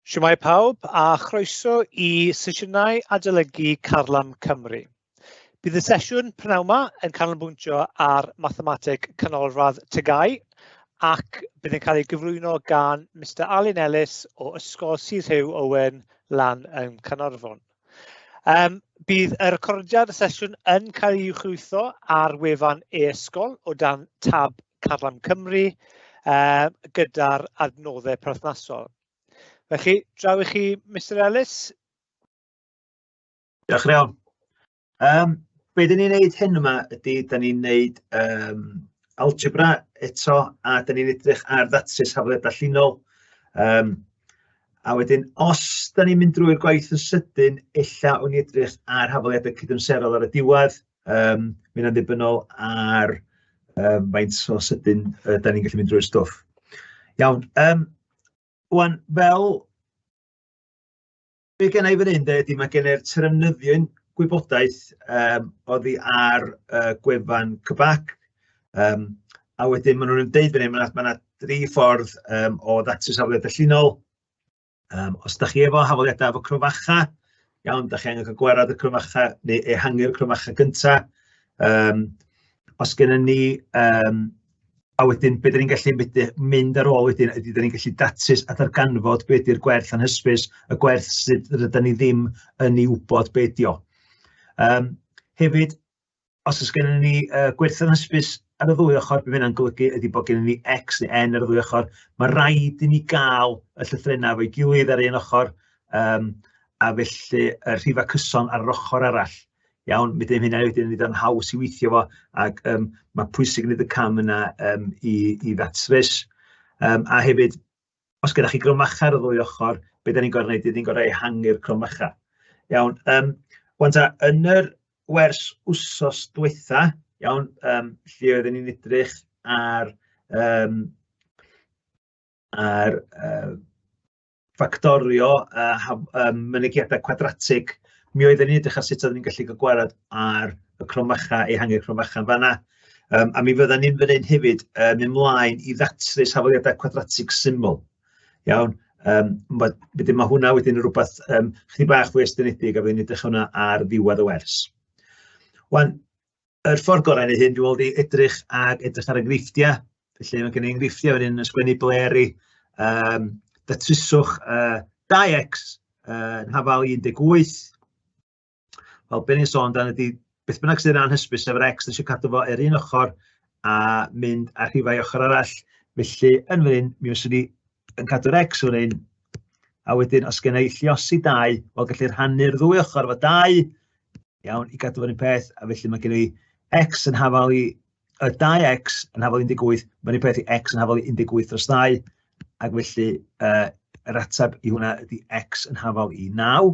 Siwmai pawb a chroeso i sesiynau adolygu Carlam Cymru. Bydd y sesiwn prynawn yma yn canolbwyntio ar mathemateg canolradd Tygau ac bydd yn cael ei gyflwyno gan Mr Alun Ellis o Ysgol Sir Rhyw Owen lan yn Caernarfon. Um, bydd y recordiad y sesiwn yn cael ei uwchlwytho ar wefan e-ysgol o dan tab Carlam Cymru uh, gyda'r adnoddau perthnasol. Felly, draw i chi, Mr Ellis. Diolch yn iawn. Um, be dyn ni'n neud hyn yma ydy, dyn ni'n neud um, algebra eto, a dyn ni'n edrych ar ddatrys hafliad allinol. Um, A wedyn, os da ni'n mynd drwy'r gwaith yn sydyn, ella o'n i edrych ar hafaliadau cydymserol ar y diwedd, Yym mae hynna'n ddibynnol ar yym faint o sydyn yy 'dan ni'n gallu mynd drwy'r stwff. Iawn, yym ŵan fel be gynna i fan hyn de ydy ma' gen i'r terfynyddion gwybodaeth yym oddi ar yy gwefan CBAC yym a wedyn ma' nhw'n deud fan hyn ma' 'na ma' 'na dri ffordd yym o ddatrys afledau llinol. Um, os da chi efo hafaliadau efo cryfacha, iawn, da chi angen cael gwerad y cryfacha neu ehangu'r cryfacha gyntaf. Um, os gennym ni um, A wedyn, beth ni'n gallu mynd, mynd ar ôl wedyn, ydy, ni'n gallu datrys a darganfod beth ydy'r gwerth yn hysbys, y gwerth sydd rydyn ni ddim yn ei wybod beth ydy o. Um, hefyd, Os oes gennym ni uh, gwerthoedd hysbys ar y ddwy ochr, bydd hynna'n golygu ydy bod gennym ni X neu N ar y ddwy ochr. Mae rhaid i ni gael y llythrenau efo'i gilydd ar un ochr, um, a felly y rhifau cyson ar yr ochr arall. Iawn, mi ddim hynna wedyn yn ei haws i weithio fo, ac um, mae pwysig wneud y cam yna um, i, i ddatrys. Um, a hefyd, os gyda chi grymacha ar y ddwy ochr, beth da ni'n gorau gwneud, ni'n gorau ehangu'r crymacha. Iawn, um, wan ta, yn yr wers wsos diwetha, iawn, um, lle oedden ni'n edrych ar, um, ar uh, ffactorio uh, um, mynegiadau cwadratig, mi oedden ni'n edrych ar sut oedden ni'n gallu gwared ar y cromacha, ehangu'r cromacha. Fanna, Um, a mi fydda ni'n fyneud hefyd um, mynd mlaen i ddatrys hafaliadau cwadratig syml. Iawn, um, wedyn mae hwnna wedyn yn rhywbeth um, chdi bach fwy estynedig a fydden edrych hwnna ar ddiwedd y wers. Wan, yr ffordd gorau neu hyn, dwi'n meddwl, i edrych ag edrych ar enghreifftiau. Felly mae gen i enghreifftiau wedyn yn sgwennu bleri, um, datryswch uh, 2x uh, yn hafal 18, Wel, be ni'n sôn dan ydy, beth bynnag sydd yn anhysbys, sef yr X, eisiau cadw fo ar un ochr a mynd a rhifau ochr arall. Felly, yn fan hyn, mi fyswn ni yn cadw'r X fan hyn, a wedyn os gen i lliosi dau, wel, gallu rhannu'r ddwy ochr fo dau, iawn, i gadw fo'r un peth, a felly mae gen i X yn hafal i y 2x yn hafal 18, mae'n un peth i x yn hafal 18 dros 2, ac felly uh, yr ateb i hwnna ydy x yn hafal i 9.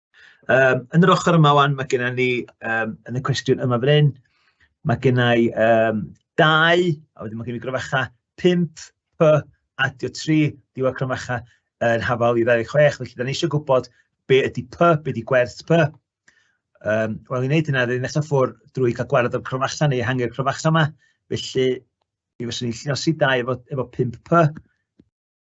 Um, yn yr ochr yma wan, mae gennym ni, um, yn y cwestiwn yma fan hyn, mae gennym ni um, dau, a wedyn mae gennym ni gryfacha 5, P, adio 3, diwedd cryfacha yn hafal i 26, felly da ni eisiau gwybod be ydy P, be ydy gwerth P. Um, Wel, i wneud hynna, rydyn nesaf ffwrdd drwy cael gwared o'r cryfacha neu hangi'r cryfacha yma, felly mi fyswn i'n lliosi dau efo, efo 5P,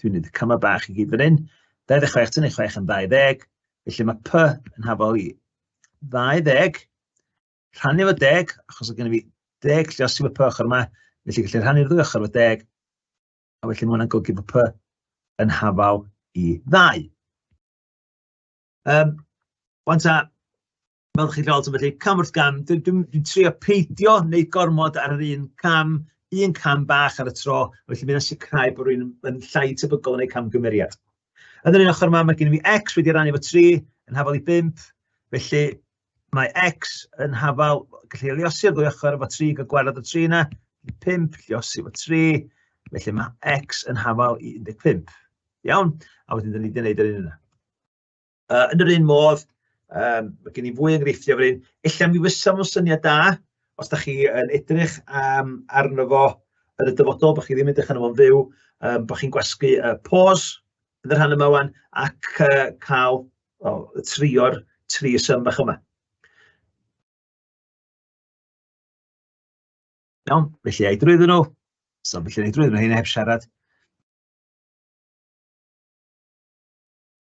Dwi'n mynd y cymau bach i gyd fan hyn. 26 tynnu 6 yn 20. Felly mae P yn hafol i 20. Rhannu fo 10, achos o gen i fi 10 lle os yw y P ochr yma. Felly gallu rhannu'r ddwy ochr fo 10. A felly mae hwnna'n golygu bod P yn hafal i ddau. Um, Wan ta, Fel chi'n cael sylwi, felly cam wrth gam, dwi'n dwi, dwi trio peidio wneud gormod ar yr un cam, un cam bach ar y tro, felly mae'n sicrhau bod rhywun yn llai tebygol yn eu camgymeriad. Yn yr un ochr yma, mae gen i fi x wedi rannu fo 3 yn hafal i 5, felly mae x yn hafal, gallu liosi o'r ddwy ochr efo 3, gael gwared o 3 yna, 5, liosi efo 3, felly mae x yn hafal i 15. Iawn, a wedyn dyn ni wedi gwneud yr un yna. Uh, yn yr un modd, um, mae gen i fwy enghreifftiau fan hyn. Ella mi fysa fo'n syniad da, os da chi yn edrych um, arno fo yn y dyfodol, bod chi ddim yn edrych arno fo'n fyw, um, bod chi'n gwasgu uh, pause yn y rhan yma wan, ac uh, cael oh, trio'r tri ysym bach yma. Iawn, felly ei drwyddyn nhw. So, felly ei drwyddyn nhw, hyn heb siarad.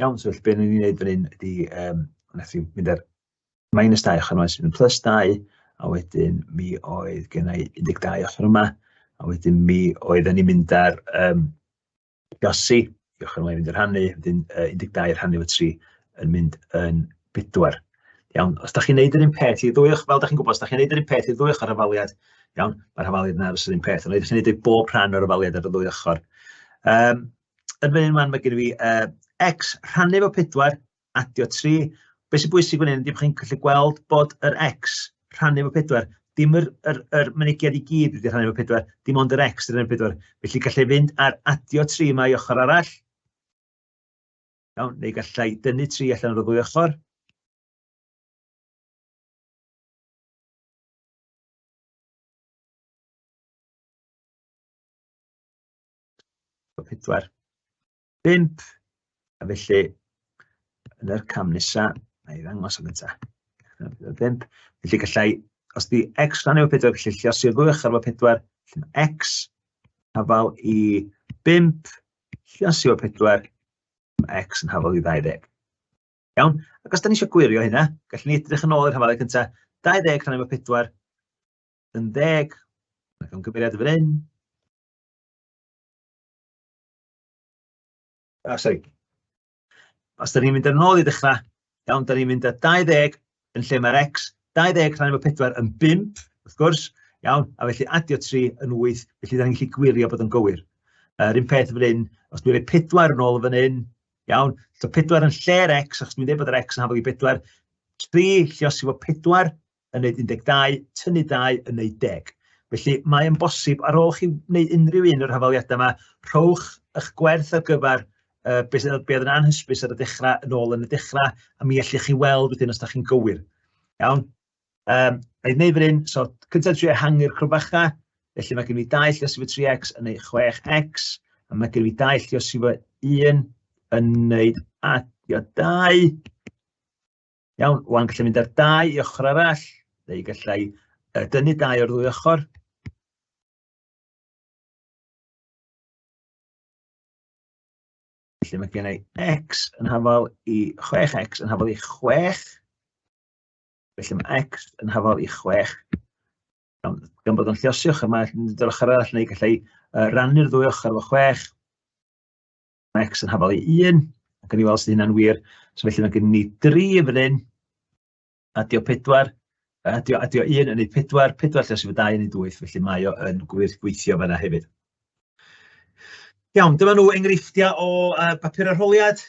Iawn, so felly be ni'n ei wneud fan hyn ydy, yym, wnaeth hi mynd ar minus 2 ochr yma sydd yn plus 2, a wedyn mi oedd gen i 12 ochr yma, a wedyn mi oedden ni'n mynd ar um, Gossi, i ochr yma i fynd i'r rhannu, wedyn uh, 12 rhannu o 3 yn mynd yn 4. Iawn, os da chi'n neud yr un peth i ddwy ochr, fel da chi'n gwybod, os da chi'n neud yr un peth i ddwy ochr rhafaliad, iawn, mae'r rhafaliad yna ar yr un peth, ond ydych chi'n neud bob rhan o'r rhafaliad ar y ddwy ochr. Um, yn fan hyn man, mae gen i fi uh, x rhannu fo 4, adio 3. Beth sy'n bwysig fan hyn, dim chi'n gallu gweld bod yr x rhannu fo 4, dim yr, yr, yr mynegiad i gyd wedi rhannu fo 4, dim ond yr x rhannu fo 4. Felly gallai fynd ar adio 3 mae ochr arall. Iawn, neu gallai dynnu 3 allan o'r ddwy ochr. 4, 5, a felly yn yr cam nesa, na i ddangos am eto, 5, felly gallai, os di x rhan efo 4, felly lle os i'r ddwy ochr efo 4, lle mae x, hafal i 5, lle os efo 4, mae x yn hafal i 20. Iawn, ac os da ni eisiau gwirio hynna, gallwn ni edrych yn ôl i'r hafalau cyntaf, 20 rhan efo 4, yn ddeg, mae'n gymeriad fan hyn, Ah, sori. Os da ni'n mynd yn ôl i ddechrau, iawn, da ni'n mynd â 20 yn lle mae'r x, 20 rhan efo 4 yn 5, wrth gwrs, iawn, a felly adio 3 yn 8, felly da ni'n gallu gwirio bod yn gywir. Yr uh, un peth fan hyn, os dwi'n rhoi 4 yn ôl fan hyn, iawn, so 4 yn lle'r x, achos dwi'n dweud bod yr x yn hafod i 4, 3 llios i fod 4, yn wneud 12, tynnu 2 yn wneud 10. Felly mae yn bosib, ar ôl chi wneud unrhyw un o'r hafaliadau yma, rhowch eich gwerth ar gyfer uh, beth be oedd yn anhysbys ar y dechrau yn ôl yn y dechrau, a mi allwch chi weld wedyn os da chi'n gywir. Iawn? Um, a i wneud fan hyn, so cyntaf tri ehangu'r crwbacha, felly mae gen i dau lle sy'n 3x yn ei 6x, a mae gen i dau lle sy'n 1 yn ei adio 2, Iawn, wan gallai mynd ar dau i ochr arall, neu gallai uh, dynnu dau o'r ddwy ochr. Felly mae gen i x yn hafal i 6x yn hafal i 6. Felly mae x yn hafal i 6. Gan, gan bod o'n lliosio ochr, mae'n dod ochr arall neu gallai uh, rannu'r ddwy ochr efo 6. Mae x yn hafal i 1, ac gawn ni weld os ydy hynna'n wir. So felly mae gen ni 3 yn fan hyn, a dio 4, a dio, a dio 1 yn ei 4, 4 lle sy'n fy 2 yn ei 8, felly mae o yn gwir gweithio fanna hefyd. Iawn, dyma nhw enghreifftiau o uh, bapur arholiad.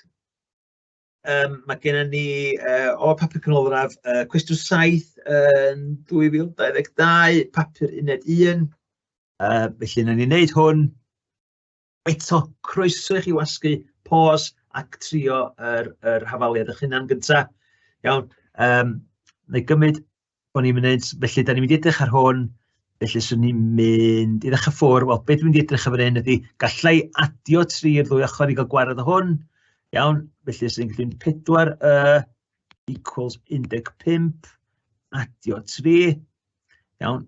Um, mae gennym ni uh, o papur canolradd uh, cwestiwn 7 yn 2022, papur uned 1. Uh, felly, na ni'n neud hwn, Eto, croeso i chi wasgu pos ac trio yr yr hafaliad eich hunan gynta. Iawn, yym nâi gymryd bo' ni'n munud, felly 'dan ni'n mynd i edrych ar hwn, felly 'swn i'n mynd i ddechra ffwr', wel be' dwi'n mynd i edrych ar fan hyn ydi, galla i adio tri i'r ddwy ochor i ga'l gwared o hwn, iawn, felly 'swn i'n gallu mynd pedwar y equals un deg pump, adio tri, iawn.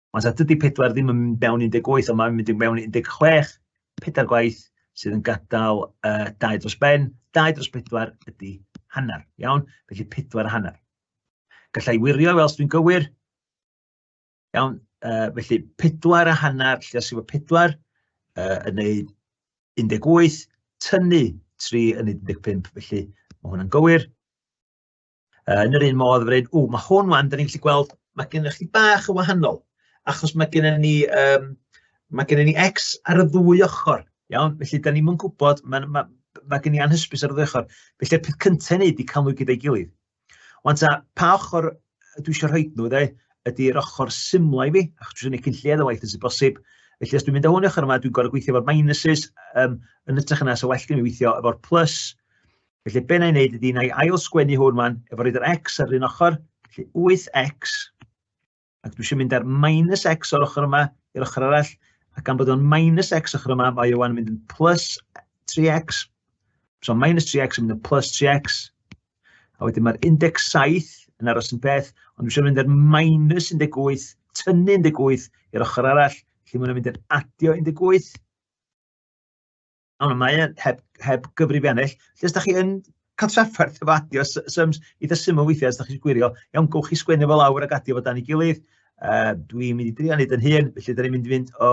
Ond sa dydy pedwar ddim yn mynd mewn 18, ond mae'n mynd mewn 16, pedair gwaith sydd yn gadael uh, dau dros ben, dau dros pedwar ydy hanner, iawn? Felly pedwar a hanner. Gallai wirio, fel dwi'n gywir, iawn, uh, felly pedwar a hanner, lle os efo pedwar, uh, yn neud 18, tynnu 3 yn 15, felly mae hwnna'n gywir. Yn yr un modd, fydde'n, o, mae hwn wan, da ni'n gallu gweld, mae gennych chi bach o wahanol, achos mae gennym ni, um, mae gennym ni X ar y ddwy ochr, iawn? Felly, da ni'n gwybod, mae, mae, mae gen i anhysbys ar y ddwy ochr. Felly'r peth cyntaf i wneud i cael nhw gyda'i gilydd. Ond ta, pa ochr dwi eisiau rhoi nhw, dde, ydy'r ochr symlau fi, achos dwi'n gwneud cyn lled o waith sy'n bosib, Felly, os dwi'n mynd â hwn Felly, be na i wneud ydy, na i ail sgwennu hwn man, efo roed yr x ar un ochr, felly 8x, ac dwi eisiau mynd ar minus x o'r ochr yma i'r ochr arall, a gan bod o'n minus x ochr yma, mae o'n mynd yn plus 3x, so minus 3x yn mynd yn plus 3x, a wedyn mae'r 17 yn aros yn beth, ond dwi eisiau mynd ar minus 18, tynnu 18 i'r ochr arall, felly mae'n mynd yn adio 18, O, mae e heb heb gyfrifiannell. Os da chi yn cael trafferth efo adio sy- syms eitha syml weithiau os da chi isio gwirio, iawn, gewch chi sgwennu fo lawr ac adio fo dan ei gilydd. Yy dwi'n mynd i drio wneud yn hun, felly dan ni'n mynd i fynd o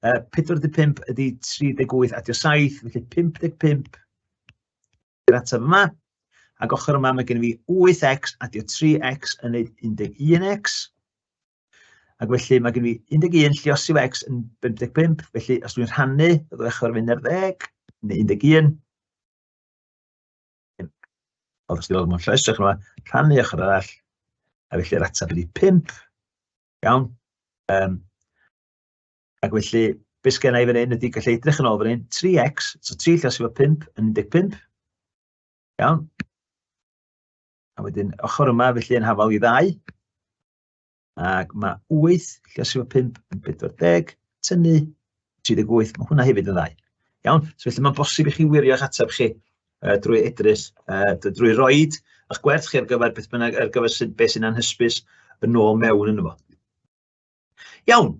yy 45 ydi 38 adio 7, felly 55 yr ateb yma. Ac ochr yma mae gen i fi 8x adio 3x yn neud 11x. Ac felly mae gen i 11 llios i'w ex yn 55, felly os dwi'n rhannu, bydd o eich o'r fynd ar ddeg, neu 11. Oedd ysgrifennu mewn llais, ych yma, rhannu eich o'r arall, a felly'r ateb ydi 5. Iawn. Um, ac felly, beth sgen i fan hyn ydy gallu edrych yn ôl fan hyn, 3x, so 3 lle sy'n 5 yn 15. Iawn. A wedyn, ochr yma, felly yn hafal i ddau. Ac mae 8 llesio 5 yn 40, tynnu 38, mae hwnna hefyd yn ddau. Iawn? So felly mae'n bosib i chi wirio eich ateb chi uh, drwy edrych, uh, drwy roed eich gwerth chi ar gyfer beth bynnag, ar gyfer sy'n, beth sy'n anhysbys yn ôl mewn yn fo. Iawn.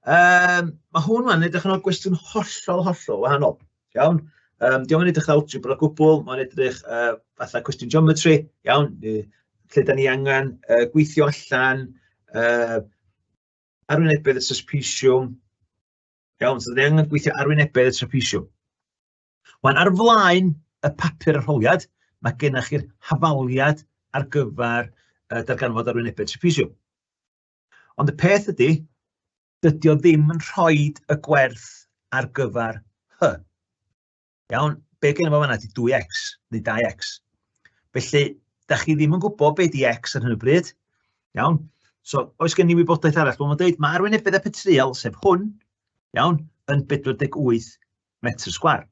Um, mae hwn yn edrych yn o'r gwestiwn hollol, hollol wahanol. Iawn? Um, diolch yn edrych awt algebra o gwbl, mae'n edrych uh, fatha cwestiwn geometry, iawn, lle da ni angen uh, gweithio allan, uh, arwynebedd y trapeziwm, iawn, so da ni angen gweithio arwynebedd y trapeziwm. Wan, ar flaen y papur arholiad, mae gennych chi'r hafaliad ar gyfer uh, darganfod arwynebedd trapeziwm. Ond y peth ydy, dydy o ddim yn rhoi y gwerth ar gyfer hy. Iawn, be gen i fo fanna ydy 2x, neu 2x. Felly, da chi ddim yn gwybod be di x ar hyn o bryd. Iawn? So, oes gen i wybodaeth arall? Wel, mae'n dweud, mae arwynebedd y petriol, sef hwn, iawn, yn 48 metr sgwar.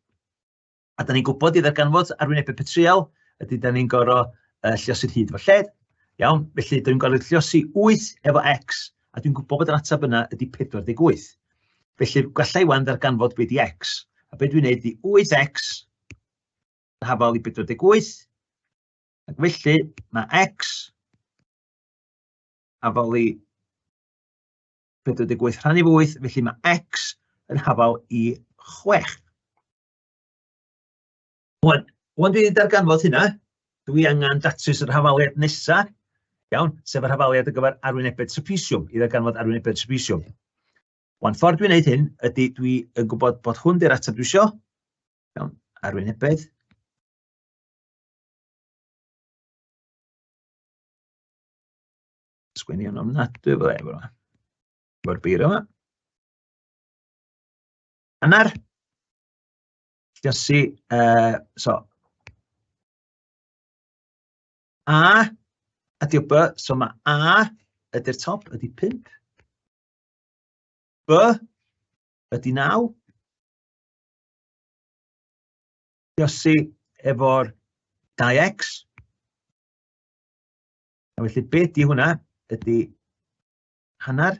A da ni'n gwybod i ddarganfod arwynebau petryal, ydy da ni'n gorau uh, lliosu'r hyd efo lled. Iawn, felly da ni'n gorau lliosu 8 efo x, a dwi'n gwybod bod yr ateb yna ydy 48. Felly gallai wan ddarganfod beth i x. A beth dwi'n gwneud i 8x yn hafal i 48, ac felly mae x hafal i 48 rhan i 8, felly mae x yn hafal i 6. Wan, wan dwi wedi darganfod hynna, dwi angen datrys yr hafaliad nesaf, iawn, sef yr hafaliad ar gyfer arwynebedd trapesiwm, i ddarganfod arwynebedd trapesiwm. Wan, ffordd dwi'n gwneud hyn ydy dwi yn gwybod bod hwn di'r ateb dwi isio, iawn, arwynebedd, sgwennu yn ofnadwy fel efo. Efo'r beiro yma. Hanner, jyst i yy so A ydy'r B, so mae A ydy'r top, ydy 5. B ydy 9. Josi efo'r 2x. A felly be di hwnna? Ydy hanner.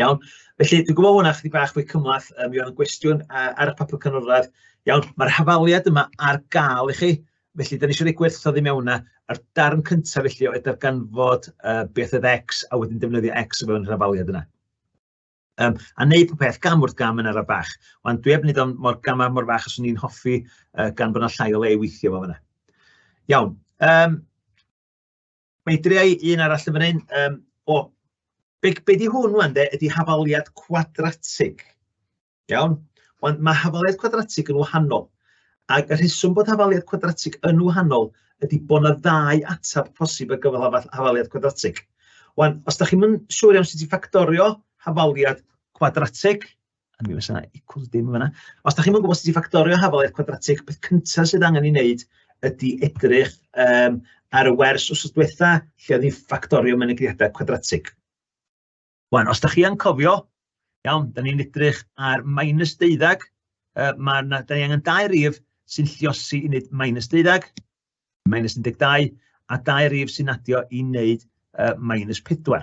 Iawn, felly dwi'n gwybod hwnna chydig bach fwy cymlath, um, mi oedd yn gwestiwn uh, ar y papur canolradd. Iawn, mae'r hafaliad yma ar gael i chi, felly da ni eisiau rhoi gwerthoedd i mewn yna. A'r darn cyntaf felly oedd darganfod uh, beth oedd X a wedyn defnyddio X o fewn yr hafaliad yna. Um, a wneud pob peth gam wrth gam yn ar y bach. Ond dwi heb wneud o'n mor gamau mor fach os o'n i'n hoffi uh, gan bod yna llai o le i weithio fo fyna. Iawn. Um, Mae dreau un arall yn fan hyn. Um, o, be, be di hwn wan de, ydy hafaliad cwadratig. Iawn? Wan, mae hafaliad cwadratig yn wahanol. Ac y rheswm bod hafaliad cwadratig yn wahanol ydy bod yna ddau ateb posib ar gyfer hafaliad cwadratig. Wan, os da chi'n mynd siŵr iawn sut i ffactorio hafaliad cwadratig, a mi fysa 'na equals dim yn fanna. Os da chi'm yn gwybod sut i ffactorio hafaliaeth cwadratig, peth cyntaf sydd angen ei wneud ydy edrych um, ar y wers os diwetha lle oedd ni'n ffactorio mynegriadau cwadratig. Wan, os da chi yn cofio, iawn, da ni'n edrych ar minus deuddag, uh, mae yna, da ni angen dau rif sy'n lliosi i wneud minus deuddag, minus 12, a dau rif sy'n adio i wneud uh, minus 4.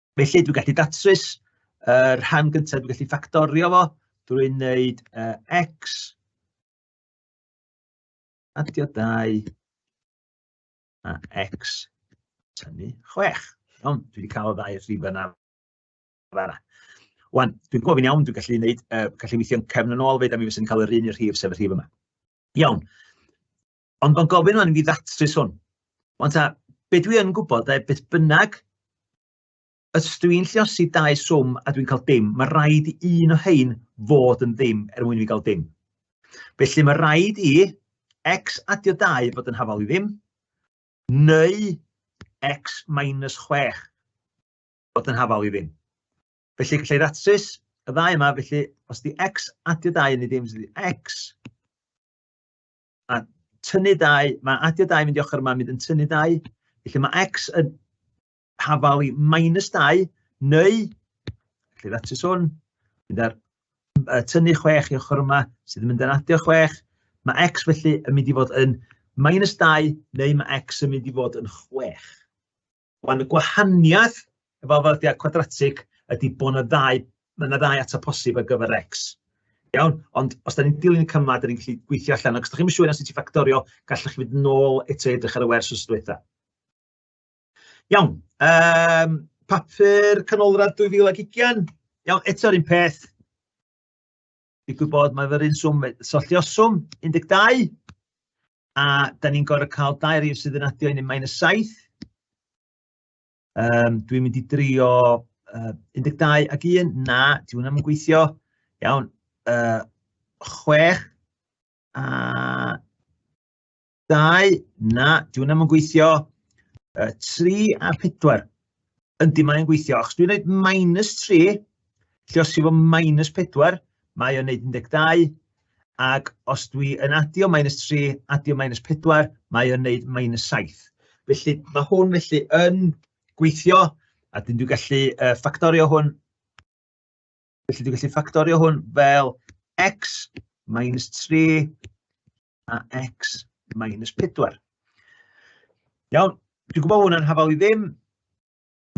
Felly, dwi'n gallu datrys y uh, rhan gyntaf, dwi'n gallu ffactorio fo, dwi'n wneud uh, x, adio 2, a x, tynnu 6. Iawn, dwi wedi cael y ddau rhif yna. Wan, dwi'n gofyn iawn, dwi'n gallu gwneud, uh, gallu weithio'n cefn yn ôl fyd, a mi fysa'n cael yr un i'r rhif sef y rhif yma. Iawn. Ond mae'n gofyn o'n i ddatrys hwn. Ond ta, be dwi yn gwybod, da, beth bynnag, os dwi'n lliosi dau swm a dwi'n cael dim, mae rhaid i un o hein fod yn ddim er mwyn i fi gael dim. Felly mae rhaid i x adio 2 fod yn hafal i ddim, neu x minus 6 fod yn hafal i ddim. Felly gallai ddatrys y ddau yma, felly os di x adio 2 yn ei ddim, sydd x a tynnu dau, mae adio dau mynd i ochr yma, mynd yn tynnu dau. Felly mae x yn hafal i minus dau, neu, felly ddatus hwn, mynd ar uh, tynnu chwech i ochr yma, sydd yn mynd yn adio chwech. Mae x felly yn mynd i fod yn minus dau, neu mae x yn mynd i fod yn chwech. Wan y gwahaniaeth efo arddodiad cwadratig ydy bod yna ddau, mae yna ddau atab posib ar gyfer x. Iawn, ond os da ni'n dilyn y cymau, da ni'n gallu gweithio allan. Ac os da chi'n siŵr os ti ffactorio, gallwch chi fynd nôl eto edrych ar y wers os diwetha. Iawn, um, papur canolradd 2020. Iawn, eto'r un peth. Digwydd bod mae fe'r un swm, swm 12, a da ni'n gorau cael dau rif sydd yn adio i ni mae'n y 7. Um, dwi'n mynd i drio uh, 12 ac 1, na, di hwnna yn gweithio. Iawn, uh, 6 a Dau, na, dyw hwnna ddim yn gweithio. Uh, tri a pedwar. Yndi, mae'n gweithio. Achos dwi'n gwneud minus tri, lle os yw fo minus pedwar, mae o'n gwneud 12. Ac os dwi yn adio minus tri, adio minus pedwar, mae o'n gwneud minus saith. Felly, mae hwn felly yn gweithio, a dyn dwi'n gallu uh, ffactorio hwn. Felly, dwi'n gallu ffactorio hwn fel x minus 3 a x minus 4. Iawn, dwi'n gwybod hwn yn hafal i ddim,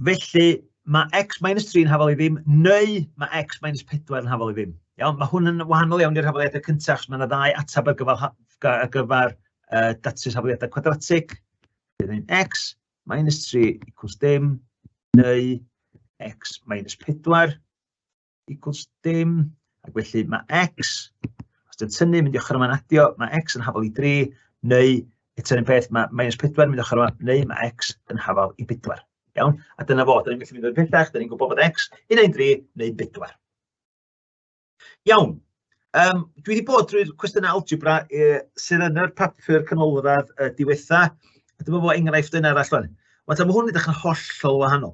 felly mae x minus 3 yn hafal i ddim, neu mae x minus 4 yn hafal i ddim. Iawn, mae hwn yn wahanol iawn i'r hafaliadau cyntaf, achos mae yna ddau atab ar gyfer, ar gyfer uh, datrys hafaliadau quadratic. Bydd yn x minus 3 equals dim, neu x minus 4. equals dim, ac felly mae x, os dwi'n tynnu, mynd i ochr yma'n adio, mae x yn hafal i 3, neu eto un peth, mae minus 4 mynd i ochr yma, neu mae x yn hafal i 4. Iawn? A dyna fo, dyna'n gallu mynd o'r pethach, dyna'n gwybod bod x yn ein 3 neu 4. Iawn. Um, dwi wedi bod drwy'r cwestiynau algebra e, sydd yn yr papur canolradd y diwetha. A dyma fo enghraifft yn arall fan. Ond mae hwn yn edrych yn hollol wahanol.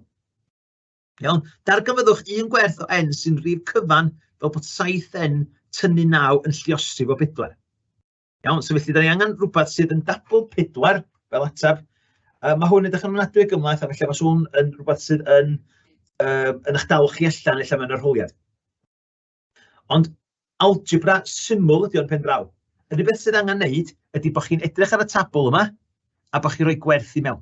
Iawn? Darganfyddwch un gwerth o n sy'n rhif cyfan fel bod 7n tynnu 9 yn lliosrif o 4. Iawn, so felly, da ni angen rhywbeth sydd yn dabl 4 fel ateb. Uh, mae hwn yn dechrau'n ofnadwy gymlaeth, a felly mae hwn yn rhywbeth sydd yn, uh, yn eich dal chi allan allan mewn arholiad. Ond algebra syml ydy o'n pen draw. Yr unig beth sydd angen wneud ydy bod chi'n edrych ar y tabl yma a bod chi'n rhoi gwerth i mewn.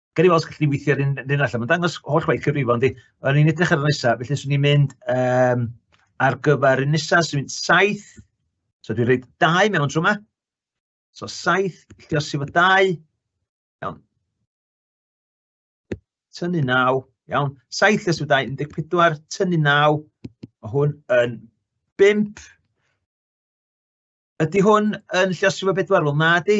Gawn ni weld os gallen ni weithio ar un, un allan. Mae'n dangos holl waith cyfrifon, di. O'n i'n edrych ar y nesaf, felly swn i'n mynd um, ar gyfer y nesaf, swn i'n mynd saith. So dwi'n rhaid dau mewn trwy yma. So saith, lle os efo dau. Iawn. Tynnu naw. Iawn. Saith lle os efo dau, 14, tynnu naw. Mae hwn yn bimp. Ydy hwn yn lle os efo bedwar? Wel, na di.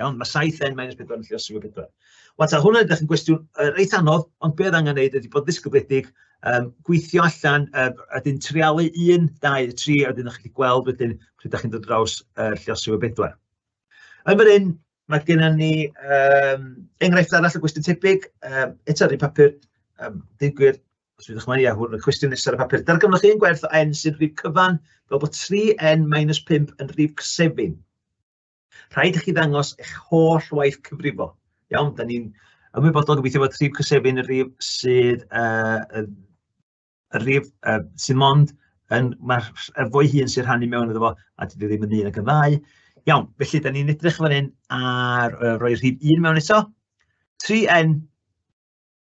Iawn, mae 7n minus 4 yn lliosog o 4. Wel, ta hwnna ydych yn gwestiwn uh, reit anodd, ond beth angen wneud ydy bod ddisgybledig, um, gweithio allan, uh, a dyn trialu 1, 2, 3, a dyn ydych chi gweld wedyn pryd ydych chi'n dod draws uh, lliosog o 4. Yn fan hyn, mae gennym ni um, enghraifft arall o gwestiwn tebyg, um, eto rhywun papur, um, dyn gwir, os ydych chi'n ia, hwn y cwestiwn nesaf y papur. Darganfyddwch un gwerth o n sy'n rhif cyfan, fel bod 3n minus 5 yn rhif 7. Rhaid i chi ddangos eich holl waith cyfrifo. Iawn, da ni'n ymwybodol gobeithio bod rhif cysefin y rhif sydd uh, y rhif uh, sydd mond yn, mae'r er fwy hun sy'n rhannu mewn iddo fo, a dwi ddim yn un ac yn ddau. Iawn, felly, da ni'n edrych fan hyn ar uh, roi rhif un mewn eto. 3N,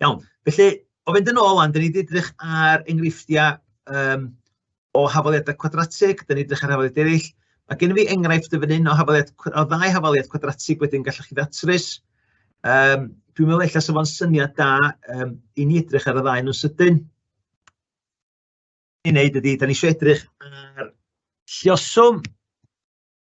Iawn, felly, o fynd yn ôl 'wan, dan ni 'di edrych ar enghreifftiau yym o hafaliadau cwadratig, dan ni 'di edrych ar hafaliadau eraill. Mae gen i fi enghraifft yn fan hyn o hafaliad cw- o ddau hafaliad cwadratig wedyn gallwch chi ddatrys. Yym dwi'n meddwl ella 'sa fo'n syniad da yym i ni edrych ar y ddau nhw'n sydyn. I wneud ydi, dan ni isio edrych ar lluoswm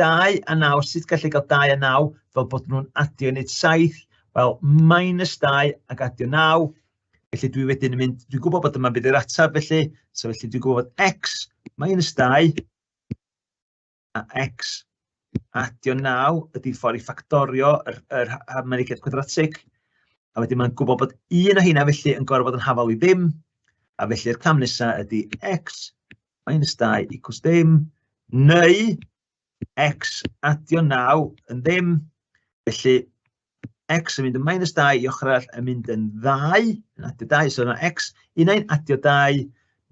2 a 9, sut gallu cael 2 a 9 fel bod nhw'n adio i wneud 7, wel, minus 2 ac adio 9, felly dwi wedyn yn mynd, dwi'n gwybod bod yma'n bydd yr ateb felly, so felly dwi'n gwybod bod x minus 2 a x adio 9 ydy ffordd i ffactorio yr, yr harmonigaeth gwadratig, a wedyn mae'n gwybod bod un o hynna felly yn gorfod yn hafal i ddim, a felly'r cam nesaf ydy x minus 2 equals dim, neu x adio 9 yn ddim. Felly, x yn mynd yn minus 2 i ochr arall yn mynd yn 2, yn adio 2, so yna x, un ein adio 2,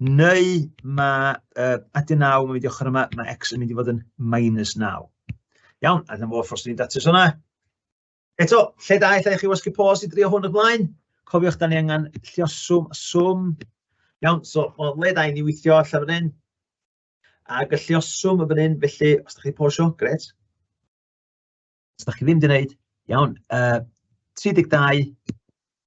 neu mae uh, adio 9 yn mynd i ochr yma, mae x yn mynd i fod yn minus 9. Iawn, a dyna fo ffos ni'n datrys hwnna. Eto, lle da i chi wasgu pos i drio hwn y blaen? Cofiwch, da ni angen llioswm a swm. Iawn, so mae'n le da i ni weithio allan fan hyn. A gyllioswm y fan hyn, felly, os da chi posio, gret. Os da chi ddim di wneud, iawn, uh, 32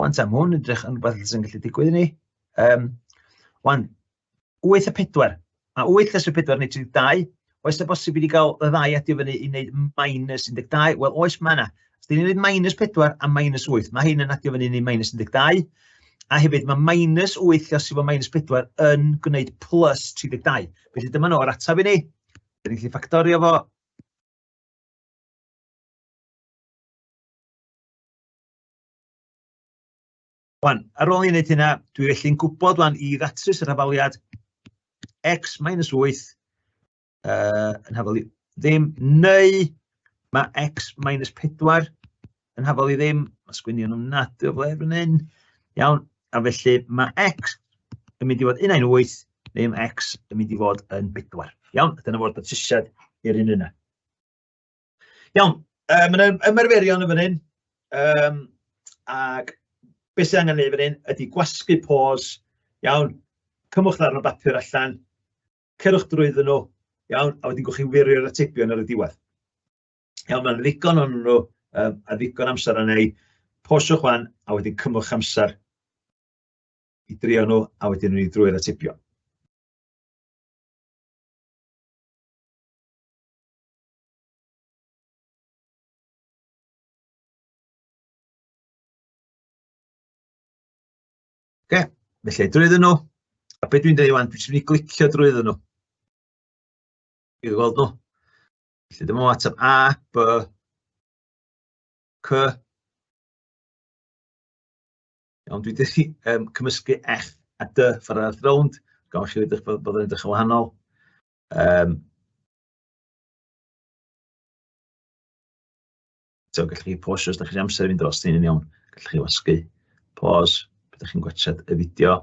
Wan ta, ma' hwn yn edrych yn rwbeth sy'n gallu digwydd i ni. Um, wan, 8 a 4. A 8 lles y 4 neu 32. Oes na bosib i ni gael y ddau adio fyny i wneud minus 12? Wel, oes mae yna. Os dyn ni'n gwneud minus 4 a minus 8, mae hyn yn adio fyny i ni minus 12. A hefyd mae minus 8 lles i fod minus 4 yn gwneud plus 32. Felly dyma nhw'r ataf i ni. Dyn ni'n gallu ffactorio fo Wan, ar ôl i wneud hynna, dwi felly'n gwybod wan i ddatrys yr hafaliad x minus 8 uh, yn hafal i ddim, neu mae x minus 4 yn hafal i ddim, mae sgwinion nhw'n nad o fled yn hyn, iawn, a felly mae x yn mynd i fod yn ein 8, neu mae x yn mynd i fod yn 4. Iawn, dyna fod datrysiad i'r un yna. Iawn, yy ma' 'na ymarferion yn fan hyn yym ac be' sy angen neud fan hyn ydi gwasgu pos, iawn, cymwch ddarn o bapur allan, cerwch drwyddyn nhw, iawn, a wedyn gewch chi wirio'r atebion ar y diwedd. Iawn, ma' 'na ddigon ohonyn nhw yym a ddigon o amser arna i, posiwch 'wan a wedyn cymwch amser i drio nhw a wedyn ewn ni drwy'r atebion. Oce, felly drwyddyn nhw, a beth dwi'n dweud wan, dwi'n mynd i glicio drwyddyn nhw. I weld nhw. Felly dyma ateb A, B, C. Iawn, dwi'n dweud um, cymysgu F a D ffordd ar y rownd. Gawch chi wedi bod yn edrych yn wahanol. Um, So, gallwch chi pause os da chi'n amser fynd dros ni'n iawn. Gallwch chi wasgu pause pan da chi'n gwachod y fideo.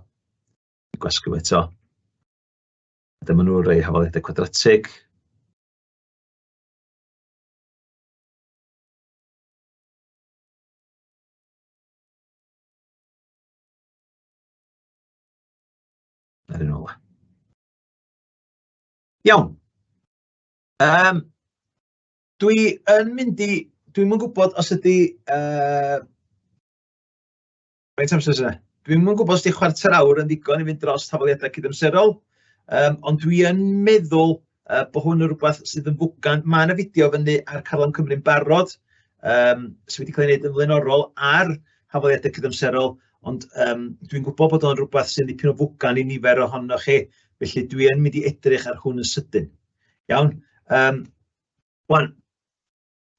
Gwasgu fo eto. Dyma nhw rei hafaliadau cwadratig. Ar un ola. Iawn. Yym dwi yn mynd i... dwi'm yn gwybod os ydy yy... faint o amser sy 'na? Dwi'm yn gwybod os 'di chwarter awr yn ddigon i fynd dros tafodiaith cydamserol, yym ond dwi yn meddwl yy bod hwn yn rywbeth sydd yn fwgan. Ma' 'na fideo fyny ar Caron Cymru'n barod yym sy wedi cael ei wneud yn flaenorol ar hafaliadau cydamserol. Ond yym dwi'n gwybod bod o'n rhywbeth sy'n dipyn o fwgan i nifer ohonoch chi, felly dwi yn mynd i edrych ar hwn yn sydyn. Iawn. Um, Wan,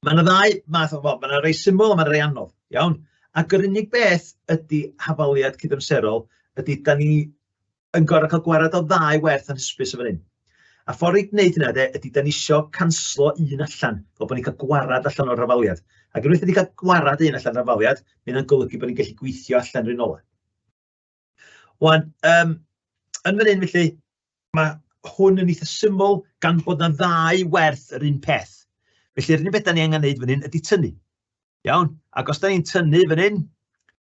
mae yna ddau math o, wel, mae yna rei syml a mae yna rei anodd. Iawn. Ac yr unig beth ydy hafaliad cydamserol ydy, da ni yn gorau cael gwared o ddau werth yn hysbys o fan hyn. A ffordd i wneud hynna de, ydy da ni isio canslo un allan, fel bod ni'n cael gwared allan o'r rafaliad. Ac unwaith wedi cael gwared un allan o'r rafaliad, mae hynna'n golygu bod ni'n gallu gweithio allan rhywun ola. Wan, um, yn fan hyn felly, mae hwn yn eitha syml gan bod na ddau werth yr un peth. Felly'r unig beth da ni angen neud fan hyn ydy tynnu. Iawn, ac os da ni'n tynnu fan hyn,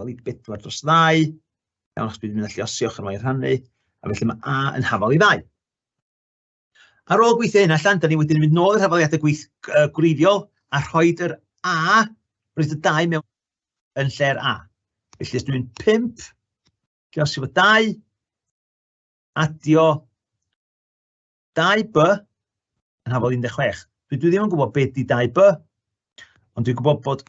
Wel, i bedwar dros ddau. Iawn, achos dwi'n mynd allu osioch yn o'i rhannu. A felly mae A yn hafal i ddau. Ar ôl gweithio hyn allan, da ni wedyn mynd nôl i'r hafaliadau gweith uh, gwreiddiol a rhoi yr A, rhoi y dau mewn yn lle'r A. Felly, os dwi'n 5, lle os efo 2, adio 2B yn hafal 16. Dwi, dwi ddim yn gwybod beth di 2B, ond dwi'n gwybod bod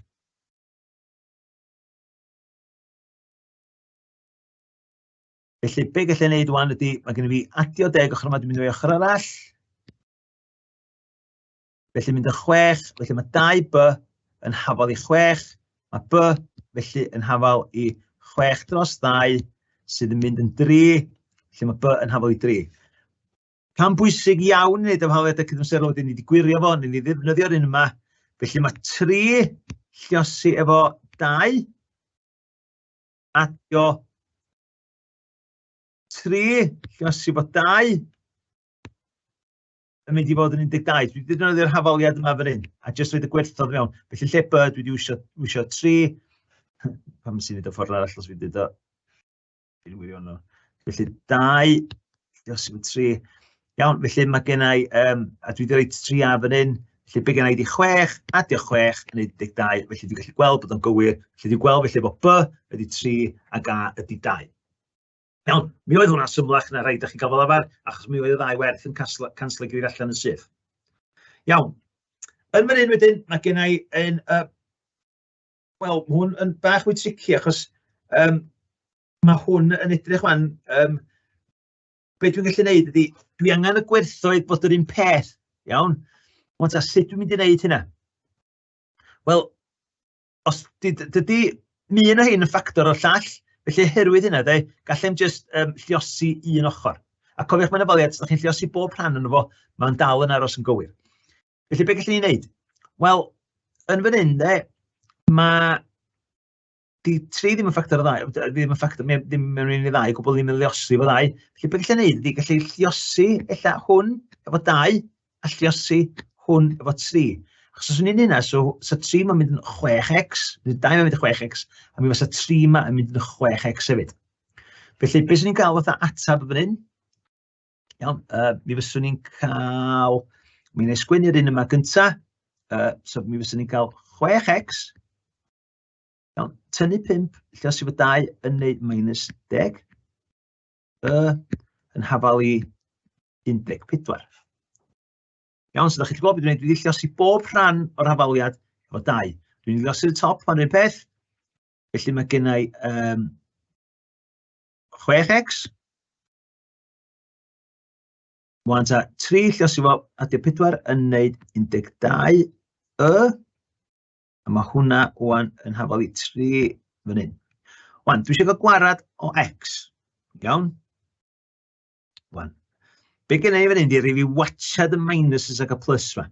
Felly, be gallai wneud wan ydy, mae gen i fi adio deg ochr yma, dwi'n mynd i ochr arall. Felly mynd y chwech, felly mae dau by yn hafal i chwech, mae by felly yn hafal i chwech dros ddau, sydd yn mynd yn dri, felly mae by yn hafal i dri. Cam bwysig iawn i wneud am hawliadau cydamserol wedyn ni wedi gwirio fo, ni wedi ddefnyddio'r un yma. Felly mae tri lliosi efo dau. Adio tri lliosi efo dau yn mynd i fod yn 12. Dwi wedi defnyddio'r hafaliad yma fan hyn, a jyst wedi gwerthodd mewn. Felly lle by, dwi wedi wisio, wisio 3, pam sy'n mynd o ffordd arall os fi wedi o. Fi'n wirio nhw. Felly, dau, os yw'n tri. Iawn, felly mae gen i, um, a dwi wedi rhoi tri a fan hyn, felly bydd gen i di chwech, adio chwech, yn 12, felly dwi'n gallu gweld bod o'n gywir, felly dwi'n gweld felly bod B ydy tri, a A ydy dau. Iawn, mi oedd hwnna'n symlach na rhaid â chi gael fel arfer, achos mi oedd y ddau werth yn canslo gyda'r allan yn syth. Iawn, yn fan hyn wedyn, mae gen i yn y Wel, mae hwn yn bach mwy tricky achos um, mae hwn yn edrych fan, um, be dwi'n gallu gwneud ydy, dwi angen y gwerthoedd bod yr un peth, iawn? Ond a sut dwi'n mynd i wneud hynna? Wel, os dydy mi yn o hyn yn ffactor o'r llall, felly herwydd hynna, de, gallem just um, lliosi un ochr. A cofiwch mae'n ofaliad, os ydych chi'n lliosi bob rhan yn fo, mae'n dal yn aros yn gywir. Felly, beth gallwn ni wneud? Wel, yn fan hyn, de, mae... Di tri ddim yn ffactor o ddau, ddim yn ffactor, ddim yn un i ddau, gwbl ddim yn lliosi fo ddau. Felly, beth gallwn ni wneud? Di gallu lliosi ella hwn efo dau, a lliosi hwn efo tri. Achos os ni'n hynna, so, so 3 mae'n mynd yn 6x, bydd 2 mae'n mynd yn 6x, a mi fysa 3 mae'n mynd yn 6x hefyd. Felly, beth sy'n ni'n cael fatha atab fan hyn? Iawn, yy mi fyswn ni'n cael... Mi wna i sgwennu'r un yma gynta, yy so mi fyswn ni'n cael 6x, iawn, tynnu 5 lle os yw y 2 yn wneud minus 10, y yn hafal i 14. Iawn, so da chi'n gwybod beth dwi'n gwneud, dwi'n ddillosi bob rhan o'r hafaliad efo 2. Dwi'n ddillosi y top pan rhywun peth, felly mae gennau um, 6x, Mae'n ta 3 lluosio fo, a di 4 yn neud 12 y. A mae hwnna o'n yn hafal i 3 fan hyn. Wan, dwi eisiau cael gwarad o x. Iawn? Wan. Be gen i fan hyn di rif i watchad y minuses ac y plus fan.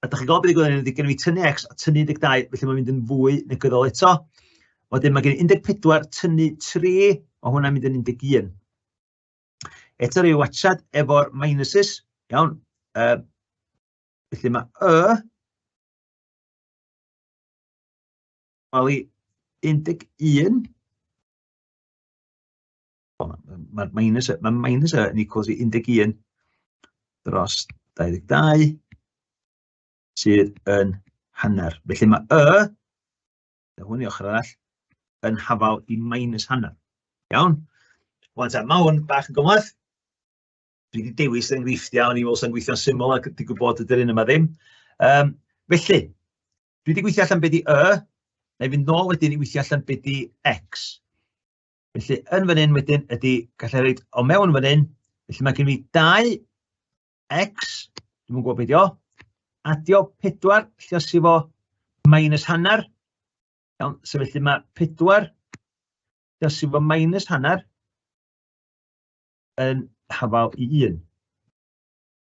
A da chi'n gweld beth i gwneud, gen i tynnu X a tynnu 12, felly mae'n mynd yn fwy negyddol eto. Wedyn mae gen i 14, tynnu 3, mae hwnna'n mynd yn 11. Eto rhyw wachad efo'r minuses, iawn. Uh, felly mae Y, Wel i 11, O ma'r minus yy ma' minus yy yn equals i 11 dros 22 sydd yn hanner. Felly mae y, na hwn i ochr arall, yn hafal i minus hanner. Iawn? Wel, ta, mae hwn bach yn gymlaeth. Dwi wedi dewis enghreifftiau o'n i fel sy'n gweithio'n syml ac wedi gwybod ydy'r un yma ddim. Um, felly, dwi wedi gweithio allan beth i y, neu fynd nôl wedyn i weithio allan beth i x. Felly, yn fan hyn wedyn ydy, gallai reid o mewn fan hyn, felly mae gen i 2 x, dwi'n mwyn gwybod beth o, adio 4, lle os i fo minus hanner, iawn, so felly mae 4, lle os i fo minus hanner, yn hafal i 1.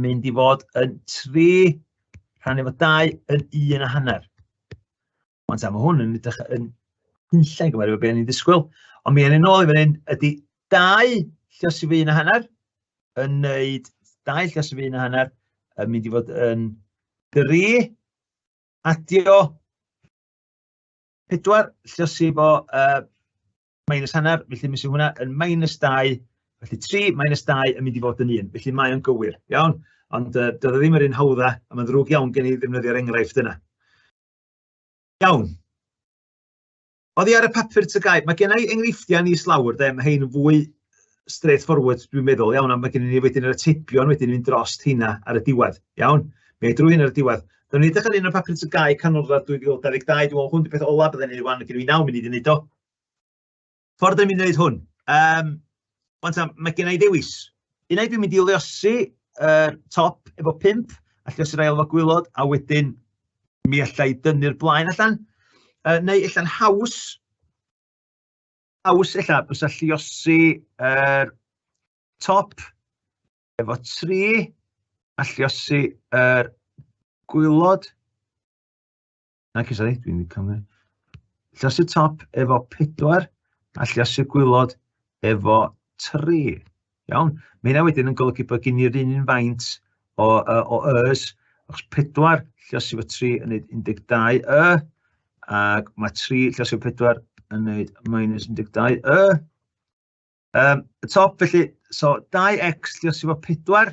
mynd i fod yn 3 rhan efo 2 yn 1 a hanner. Ond ta, mae hwn yn edrych yn hunllai gyfer efo beth ni'n ddisgwyl. Ond mi yn ôl i fan hyn, ydy 2 llos i fy 1 a hanner yn neud 2 llos i fy 1 a hanner yn mynd i fod yn 3 adio 4 llos i fo uh, minus hanner, felly mis hwnna yn minus 2, felly 3 minus 2 yn mynd i fod yn 1, felly mae o'n gywir, iawn? Ond uh, doedd e ddim yr un hawdda, a mae'n ddrwg iawn gen i ddefnyddio'r enghraifft yna. Iawn. Oedd i ar y papur tygau, mae gen i enghreifftiau ni slawr, de, mae hyn yn fwy straightforward, dwi'n meddwl, iawn, a mae gen i ni wedyn yr atebion wedyn mynd dros hynna ar y diwedd, iawn? Mae drwy hyn ar y diwedd. Dyna ni edrych ar un o'r papur tygau canolradd 2022, dwi'n meddwl hwn di peth ola bydden ni wedi wan, gen i 9 munud i wneud o, Ffordd o'n i'n gwneud hwn? Um, ond ta, mae gen i ddewis. Un ai dwi'n mynd i leosi uh, top efo pimp, a lleosi'r ail efo gwylod, a wedyn mi allai dynnu'r blaen allan. Uh, neu allan haws, haws ella, bys lleosi uh, top efo tri, a lleosi uh, gwylod, Ac is reit, dwi'n cael ni. Llasu top efo pedwar a llasu gwylod efo tri. Iawn. Mae hynna wedyn yn golygu bod gen i'r un un faint o, uh, o ys, achos pedwar llasu efo tri yn neud 12 y, ac mae tri llasu efo pedwar yn neud minus 12 y. Um, y top felly, so 2x llasu efo pedwar,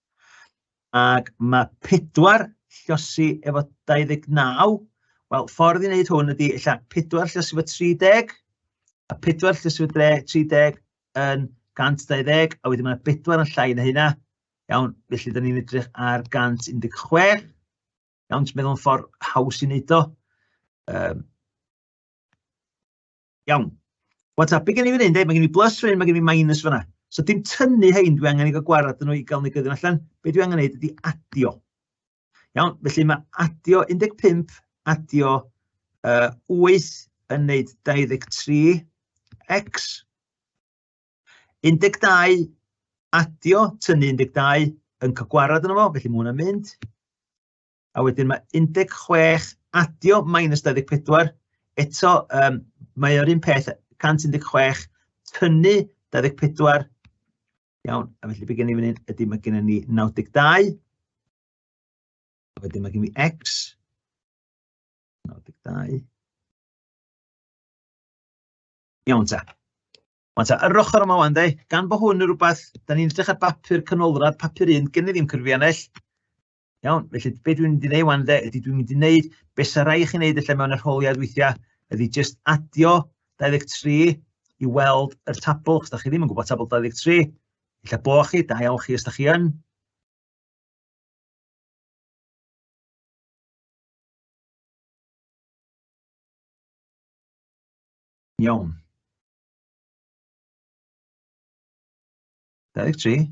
Ac mae pedwar llosi efo 29. Wel, ffordd i wneud hwn ydy, illa, pedwar llosi efo 30, a pedwar llosi efo 30 yn 120, a wedyn mae yna bedwar yn llai na hynna. Iawn, felly da ni'n edrych ar 116. Iawn, ti'n meddwl yn ffordd haws i wneud o. Um, Iawn. What's up? Be gen i fan hyn, de? Mae gen i plus fan hyn, mae gen i minus fan So dim tynnu hein, dwi angen i gael gwared dyn nhw i gael negyddion allan. Be dwi angen neud ydy adio. Iawn, felly mae adio 15, adio uh, 8 yn neud 23, x. 12, adio, tynnu 12, yn cael gwared yno fo, felly mae hwnna'n mynd. a wedyn mae 16 adio minus 24, eto um, mae o'r un peth 116 tynnu 24, iawn, a felly bydd gen i fan hyn, ydy mae gen ni 92, a wedyn mae gen i x, 92, Iawn ta. Ond ta, yr ochr yma wan, de, gan bod hwn yn rhywbeth, da ni'n edrych ar bapur canolradd, papur un, gen i ddim cyrfiannell, Iawn, felly be dwi'n mynd i wneud wan de, ydy dwi'n mynd i wneud beth sy'n rhaid i chi wneud allan mewn arholiad weithiau, ydy just adio 23 i weld yr tabl, os da chi ddim yn gwybod tabl 23, illa bo chi, da iawn chi os da chi yn. Iawn. 23.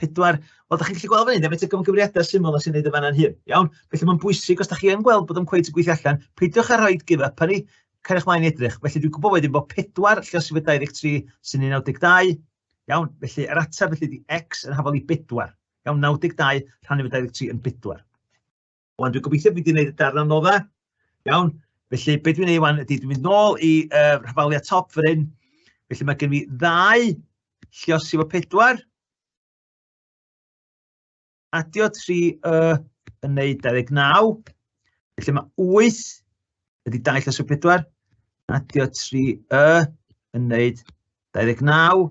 pedwar, wel, da chi'n gallu gweld fan hyn, efo y gymgymeriadau syml na sy'n neud y fanna'n hyn. Iawn? Felly mae'n bwysig, os da chi yn gweld bod yn cweith yn gweithio allan, peidiwch â rhoi give up ni, cariwch mlaen i edrych. Felly dwi'n gwybod wedyn bod pedwar lle os yw 23 sy'n 92. Iawn? Felly yr ateb felly di x yn hafol i bedwar. Iawn, 92 rhan efo 23 yn bedwar. Wan, dwi'n gobeithio fi wedi gwneud y darn anoddau. Iawn, felly beth dwi'n ei wan ydy, dwi'n mynd nôl i uh, rhafaliau top fy ryn. Felly mae gen fi ddau llios efo pedwar. Adio 3 uh, yn neud 29. Felly mae 8 ydy dau lles o 4. Adio 3 y yn neud 29.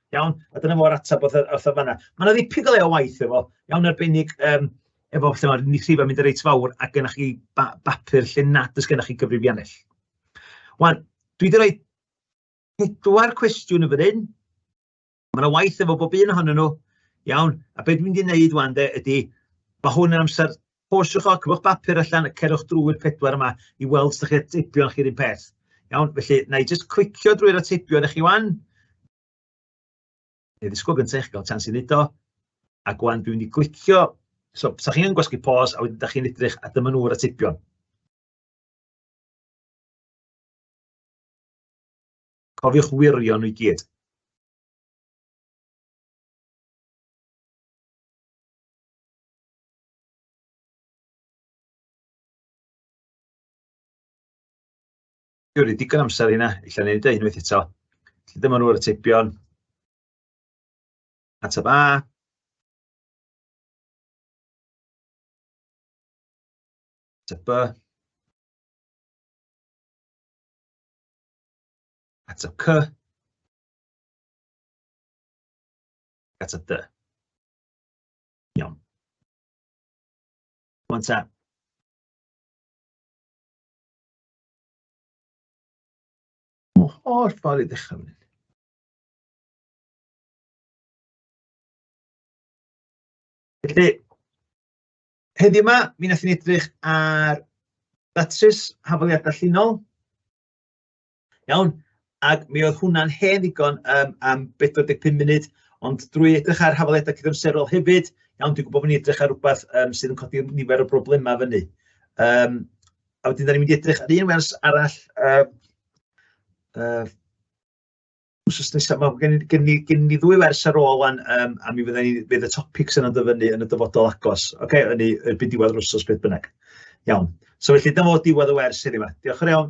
Iawn, a dyna fo'r ateb wrth y fanna. Mae yna ddipyn o le o waith efo, iawn arbennig um, efo lle mae'r nithrifau mynd yn reit fawr a gennych chi ba bapur lle nad ys gennych chi gyfrifiannell. Wan, dwi wedi rhoi pedwar cwestiwn yn fan hyn. Mae yna waith efo bob un ohonyn nhw. Iawn, a beth dwi'n mynd i wneud wan de ydy, mae hwn yn amser Posiwch o, cyfwch bapur allan, a cerwch drwy'r pedwar yma i weld sut chi'r teipion chi'r un peth. Iawn, felly, na i jyst clicio drwy'r atebion eich i wan. Neu ddisgwyl gyntaf eich gael chans i wneud o. A gwan, dwi'n mynd i glicio. So, sa chi'n gwasgu pos, a wedyn da chi'n edrych, a dyma nhw'r atebion. Cofiwch wirio nhw i gyd. Dwi'n rhaid digon amser i hynna, ella wneud e unwaith eto. Felly dyma nhw'r atebion. Ateb A. Ateb B. Ateb C. Ateb D. Iawn. Rŵan ta. Mor holl ffordd i ddechrau fan Felly, heddiw yma, mi wnaethon ni edrych ar ddatrys hafaliadau llinol, Iawn, ac mi oedd hwnna'n hen ddigon um, am 45 munud, ond drwy edrych ar hafaliadau cydamserol hefyd, iawn, dwi'n gwybod bod ni'n edrych ar rhywbeth um, sydd yn codi nifer o broblemau fyny. Um, a wedyn, da ni'n mynd i edrych ar un wers arall, uh, uh, wsos nesa, mae gen, gen, ni, gen ni ddwy wers ar ôl wan, um, a mi fydden ni, fydd y topics yna'n dyfynnu yn y dyfodol agos. Oce, okay, yn ei erbyn diwedd yr wsos beth bynnag. Iawn. So felly, dyma fod diwedd y wers heddiw yma. Diolch yn iawn.